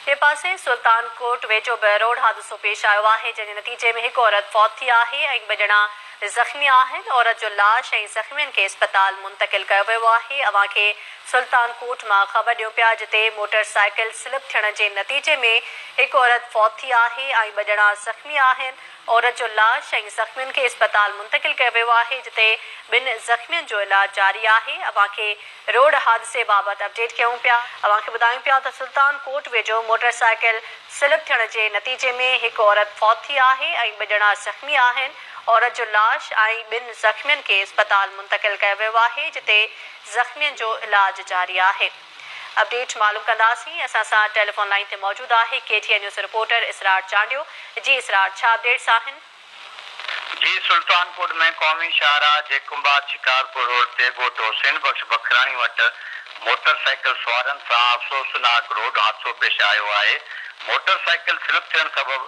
ٻئي پاسي سلطان ڪوٽ ويجهو به روڊ حادثو پيش آيو آهي، جنهن جي نتيجي ۾ هڪ عورت فوت ٿي آهي ۽ ٻه ڄڻا زخمي آهن، عورت جو لاش ۽ زخمين کي اسپتال منتقل ڪيو ويو آهي، اوهان کي سلطان ڪوٽ مان خبر ڏيون پيا جتي موٽر سائيڪل سلپ ٿيڻ جي نتيجي ۾ هڪ عورت فوت ٿي آهي ۽ ٻه ڄڻا زخمي آهن، عورت جو لاش ۽ زخمين کي اسپتال منتقل ڪيو ويو آهي جتي ٻن زخمين جو علاج جاري آهي اوهان کي روڊ حادثي بابت اپڊيٽ ڪيون پيا اوهان کي ٻڌايون پيا ته سلطان ڪوٽ ويجهو موٽر سائيڪل سلپ ٿيڻ جي نتيجي ۾ هڪ عورت فوت ٿي آهي ۽ ٻه ڄڻا زخمي آهن عورت جو لاش ۽ ٻن زخمين کي اسپتال منتقل ڪيو ويو آهي جتي زخمين جو علاج جاري آهي. اپڊيٽ معلوم ڪنداسين اسان سان ٽيليفون لائين تي موجود آهي K T N news reporter Israr Chandio جي اسرار ڇا اپڊيٽس آهن. جي سلطان ڪوٽ ۾ قومي شاهراهه جي ڪنڀار شڪارپور روڊ تي ڳوٺ حسين بخش بکراڻي وٽ موٽر سائيڪل سوارن سان افسوسناڪ روڊ حادثو پيش آيو آهي موٽر سائيڪل سلپ ٿيڻ سبب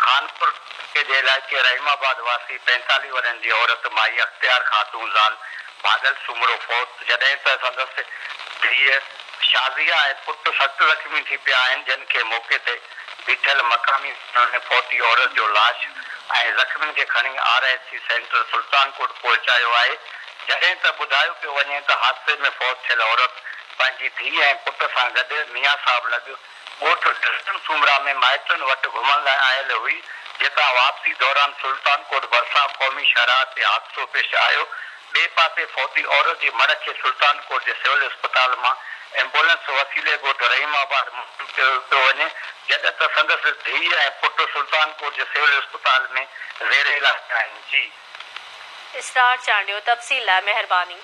خانپور ٽڪي جي علائقي رحيم آباد واسي پينتاليهه ورهين جي عورت مائي اختيار خاتون زال ڀاڳل سومرو فوت، جڏهن ته سندس ڌيء شازيه ۽ پٽ سخت زخمي ٿي پيا آهن، جن کي موقعي تي بيٺل مقامي ماڻهن ۾ فوتي عورت جو لاش ۽ زخمين کي کڻي R H C centre Sultan Kot پهچايو آهي، جڏهن ته ٻڌايو پيو وڃي ته حادثي ۾ فوت ٿيل عورت پنهنجي ڌيء ۽ پٽ سان گڏ ميان صاحب لڳ. ڳوٺ ڊسٽن سومرا ۾ مائٽن وٽ گهمڻ لاء آيل هئي، جتان واپسي دوران سلطان ڪوٽ ڀرسان قومي شاهراهه تي حادثو پيش آيو، ٻئي پاسي فوتي عورت جي مڙهه کي سلطان ڪوٽ جي سول اسپتال مان ايمبولنس وسيلي ڳوٺ رحيم آباد منتقل ڪيو پيو وڃي، جڏهن ته سندس ڌيء ۽ پٽ سلطان ڪوٽ جي سول اسپتال ۾ زير علاج آهن. جي. اسرار چانڊيو تفصيل لاء مهرباني.